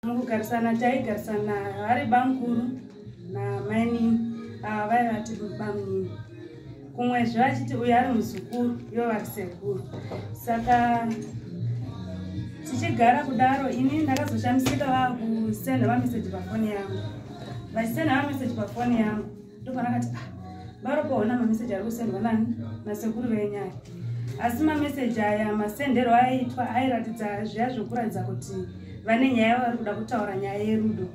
mukugarisana taigarisana vari bamukuru namainini ava ah, vaiva vati bamunini kumwezve vachiti uyo ari muzukuru ivo vari sekuru saka tichigara kudaro ini ndakazoshamisika vakusenda vameseji pafoni yangu vachisenda vameseji pafoni yangu ndopanakati ah, varopaona mameseji ari kusendwa nani nasekuru venyaya asi mameseji aya masenderwo aiitwa airatidza zviya zvekuratidza kuti vane nyaya vari kuda kutaura nyaya yerudo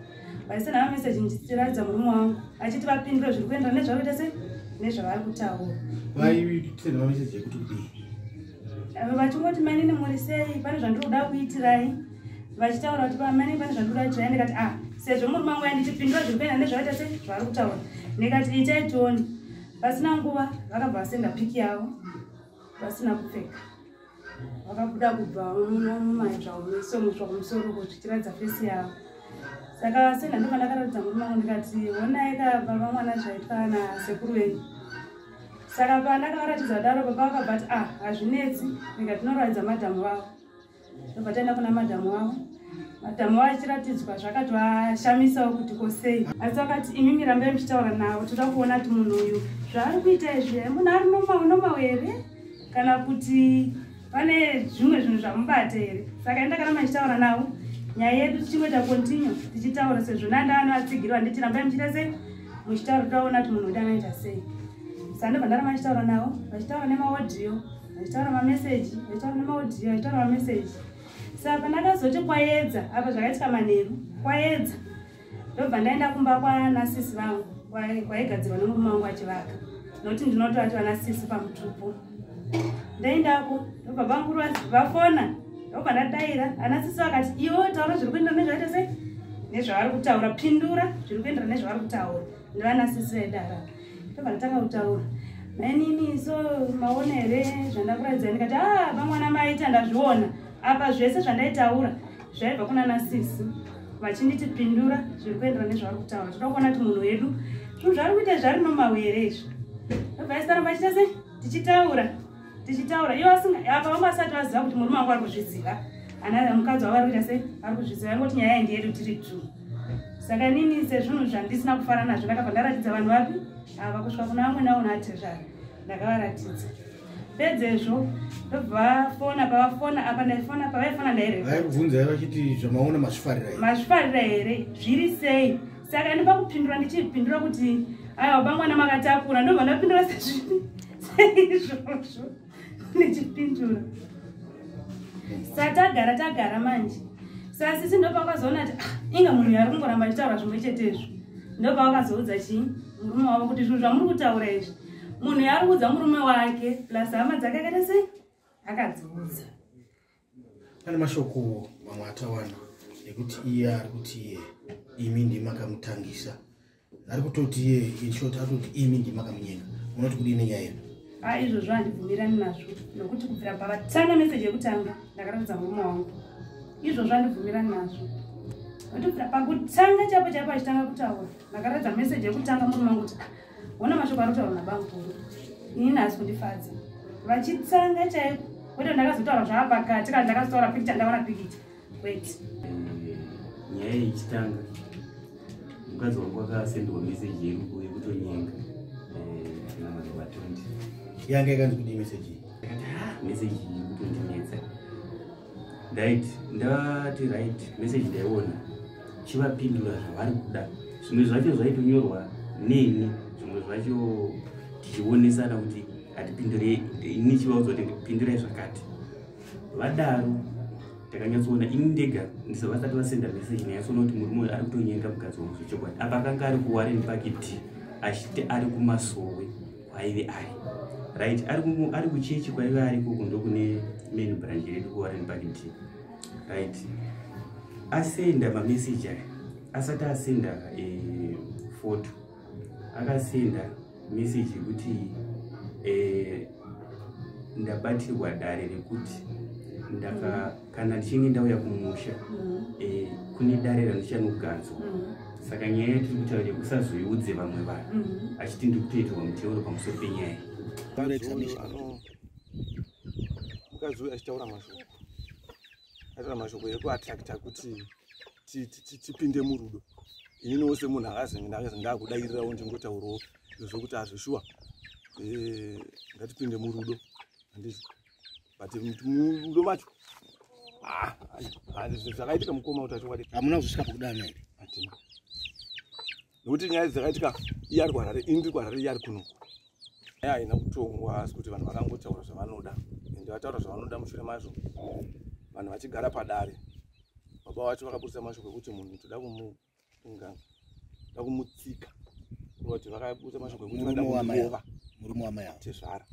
vaisenda mameseji ndichitiratidza murume wangu achiti vapindure zviri kuendera nezvakuita se nezvavari kutaura vaiitenda mameseji ekuti kudii vachingoti mainini muri sei pane zvandiri kuda kuitirai vachitaura kuti pamainini pane zvandiri kuda kuitirai ndikati ah sezvo murume wangu yanditipindura zviri kuenda nezvakaita se zvavari kutaura ndikati itai tione pasina nguva vakabva vasenda piki yavo vasina kupfeka vakabuda kubva mumaizvaune so muswa kumusoro kuzvichiratidza fesi yavo saka senda ndova ndakaratidza murume wangu ndikati honai ka baba mwana zvaitwa na sekuru venyu saka pandakavaratidza kudaro baba vakabva ti ah hazvinetsi rega tinoratidza madhamu vavo tobva taenda kuna madhamu vavo madhamu vavo achiratidzwa zvakatovashamisawo kuti ko sei asi vakati imi mirambai muchitaura navo toda kuona kuti munhu uyu zvaari kuita izvi munhu ari nomawo nomawo here kana kuti pane zvimwe zvinhu zvamubate here saka ini ndakaramba ndichitaura navo nyaya yedu tichingoita continue tichitaura sezvo nandavanovatsigirwa nditi rambai muchiita sei muchitaura kuti vaona kuti munhu uti anoita sei sandobva ndaramba ndichitaura navo vachitaura nemaudio vachitaura mameseji vachitaura nemaudio vachitaura mameseji saka pandakazoti kwayedza apa zvakaitika manheru kwayedza ndobva ndaenda kumba kwanasisi vangu kwaigadzirwa nemurume wangu achivaka nokuti ndinotora ti vanasisi pamutupo ndaendako ndobva banguru vafona ndobva ndadaira anasisi vakati iwo taura zviri kuendera nezvaita sei nezvavari kutaura pindura zviri kuendera nezvavari kutaura ndivanasisi vaidara ndobva ndatanga kutaura mainini so maona here zvandakuraidzira ndikati a ah, vamwana maita ndazviona apa zvese zvandaitaura zvaibva kuna nasisi vachinditi pindura zviri kuendera nezvavari kutaura toda kuona kuti munhu wedu zvinhu zvaari kuita izvi ari nomawu here izvi ndobva aisaramba achita sei tichitaura tichitaura ivo apa vanga vasati vaziva kuti murume wangu ari kuzviziva ana mukadzi wavo ari kuita sei ari kuzviziva yangoti nyaya yaindi yedu tiri true saka nini sezvinhu zvandisina kufara nazvo ndakabva ndaratidza vanhu vapi ava kusvika kuna vamwe nawo naatezvara ndakavaratidza pedzezvo vafona pavafona apa ndaifona pavaifona ndaire vaikubvunzai vachiti zvamaona mazvifarira here mazvifarira here zviri sei saka ndipa kupindura ndichipindura kuti aiwa pamwana makatakura ndobva ndapindura sezvii seizvozvo ndichipindura sa tagara tagara manje sasisi ndopakazoona kuti ah, inga munhu yari kungoramba nditaura zvimwe chetezvo ndopavakazoudza chii murume wavo kuti zvinhu zvamuri kutaura izvi munhu yaari kuudza murume wake plus hama dzake akaita sei akadziudza pane mashoko mamwe atawana ekuti iye ari kuti iye imi ndimakamutangisa ari kutoti iye inshort ari kuti imi ndimakamunyenga munoti kudii nenyaya ino a ah, izvozvo handibvumirani nazvo nokuti kubvira pavatanga meseji yekutanga ndakaratidza murume wangu izvozvo handibvumirani nazvo notobvira pakutanga chapo chapo achitanga kutaura ndakaratidza meseji yekutanga murume wangu kuti hona mashoko anotaura nabamukuru ini nhasi kundifadza vachitsanga chaiko kwete ndakazotaura zvaapakati kana ndakazotaura pikicha ndaona pikicha kwete eh, nyaya ichitanga mukadzi wangu akasendiwa meseji yeruko yekutonyenga eh, yanga ikanzi kudii meseji ah, meseji yekutondinetsa ndaiti ndati right message ndaiona chivapindura zvavari kuda zvimwe zvacho zvaitonyorwa neni zvimwe zvacho tichionesana kuti hatipindure ini chivaudzwa kuti pindurai zvakati vadaro ndakanyatsoona ini ndega ndisavasati vasenda message nayatsoona kuti murume uyo ari kutonyenga mukadzi wangu zvechokwadi apa akanga ari kuwareni pakiti achiti ari kumasowe kwaive ari right ari kuchechi kwaive ari koko ndokune main branch redu kuwarren park t right asenda mameseji aya asati asenda eh, foto akasenda meseji yekuti eh, ndabatirwa dare rekuti ndaka kana ndichinge ndauya kumusha mm. eh, kune dare randichanoganzwa mm. saka nyaya yatiri kutaura kusazoiudze vamwe vanhu mm. achiti ndiri kutoitirwa muteuro pamusoro penyaya mukadzi uyu achitaura mashoko ataura mashoko ekuattracta kuti tipinde murudo inini wose munhu akazenge ndakudairirawo ndingotaurawo zvokuti azvishuwa eh, ngatipinde murudo handizvo but murume wacho ah, zvakaitika mukoma kuti achokwadi hamuna kuzosvika pakudana here hatina nokuti nyaya dzakaitika iye ari kuharare ini ndiri kuharare iye ari kunoku nyaya haina kutongwa asi kuti vanhu vakangotaura zvavanoda ende vataura zvavanoda mushure mazvo vanhu vachigara padare baba vacho vakaburitsa mashoko ekuti munhu toda Nganga. Ndakumutsika. Kuti vakabuta mashoko ekuti vada kumurova. Murume wamai avo. Tezvara.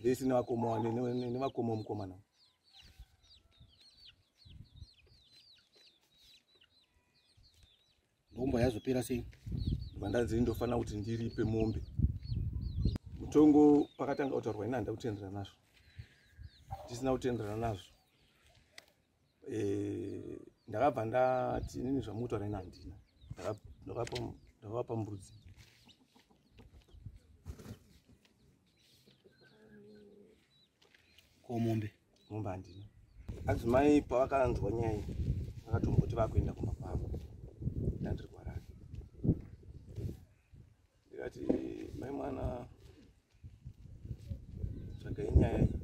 Vese nevakoma wane nevakoma womukoma navo. Ndombo yazopera sei? Vandanzi ndofanira kuti ndiripe mombe. Mutongo pakatanga kutaurwa inanda kutenderana nazvo. Ndisina kutenderana nazvo. eh, ndakabva ndati inini zvamukutaura ini handina ndakavapa mbudzi ko mombe mombe handina adzimai pavakanzwa nyaya iyi vakatomboti vakuenda kumba kwavo ndikati mai mwana tsvagai nyaya iyi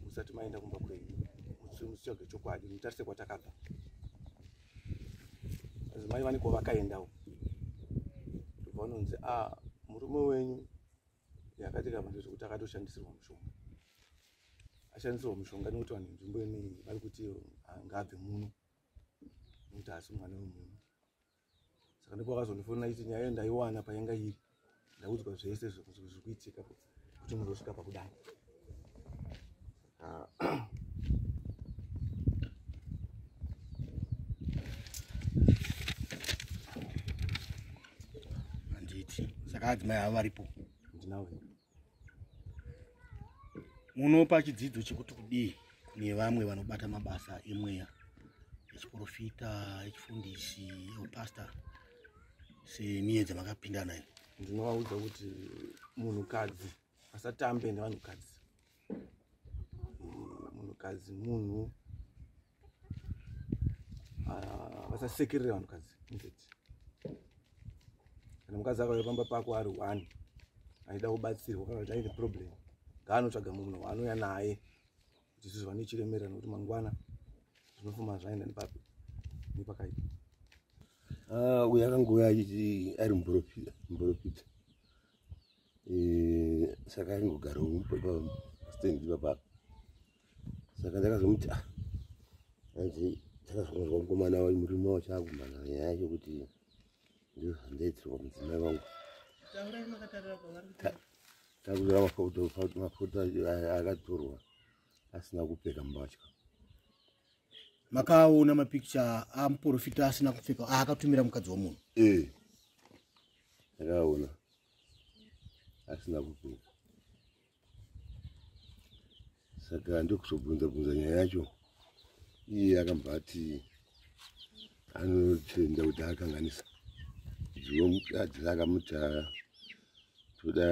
musati maenda kumba kwenyu musitsvage chokwadi mutarise kwatakabva madzimai vaniko vakaendawo ndobva vanonzi a ah, murume wenyu yakati kama ndezvekuti akatoshandisirwa mushonga ashandisirwa mushonga nekuti vanhu nzvimbo inei vari kuti ngaabve muno nekuti haasi mwana wemuno saka ndipo akazondifonera ichi nyaya iyo ndaiwana payanga iri ndaudzwa zvese zviri kuitika kuti muzosvika pakudai ah. handiti saka adzimai avo varipo ndinawo munopa chidzidzo chekuti kudii nevamwe vanobata mabasa emweya echiprofita echifundisi eupasta semiedza makapindana ini ndinovaudza kuti munhukadzi asatambe nevanhukadzi munhukadzi munhu ah, vasasekerera vanhukadzi mfeti kana mukadzi akauya pamba pako ari one aida kubatsirwa kana kuti aine problem ngaanotsvaga mumwe waanouya naye kuti izvizvo vane chiremerera nokuti mangwana zvinofuma zvaenda nepapi nepakaipa ah, uyo akangouya achiti ari muporofita muporofita eh, saka aringogara umu papastendi papapa saka ndakazomuti ah hanzi takazongonzwa mukomana wayo murume wacho akumhana nyaya yacho kuti ndozvandaitirwa mudzimai vangu takutora mafoto mafoto akatorwa asina kupfeka mbatya makaona mapikicha amuprofita asina kupfeka aakatumira mukadzi wamunhu ee akaona asina kupfeka saka ndokuzobvunza bvunza nyaya yacho iye akambva ati anotenda kuti akanganisa dziwo mukadzi akamuta toda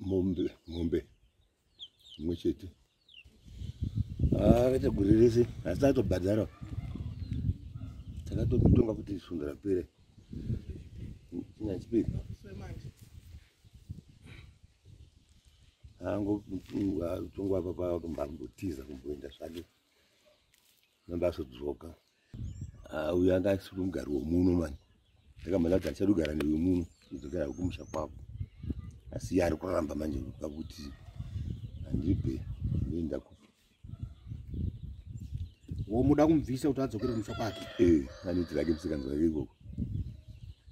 mombe mombe imwe chete akaita ah, gure rese asi takatobhadhara takatotonga kuti svondo rapere nyachipiri angotongwa apa paakambambotiza kumboenda zvake nambasodzoka ah, uyo anga asiri mugari womuno mani ndakamboda kuti achadi kugara newe muno kudzokera kumusha kwako asi iye ari kuramba manje kupa kuti handipe ndoenda kupi womuda kumubvisa kuti adzokere kumusha kwake ee eh, anoitira ke misikanzwa yake ikoko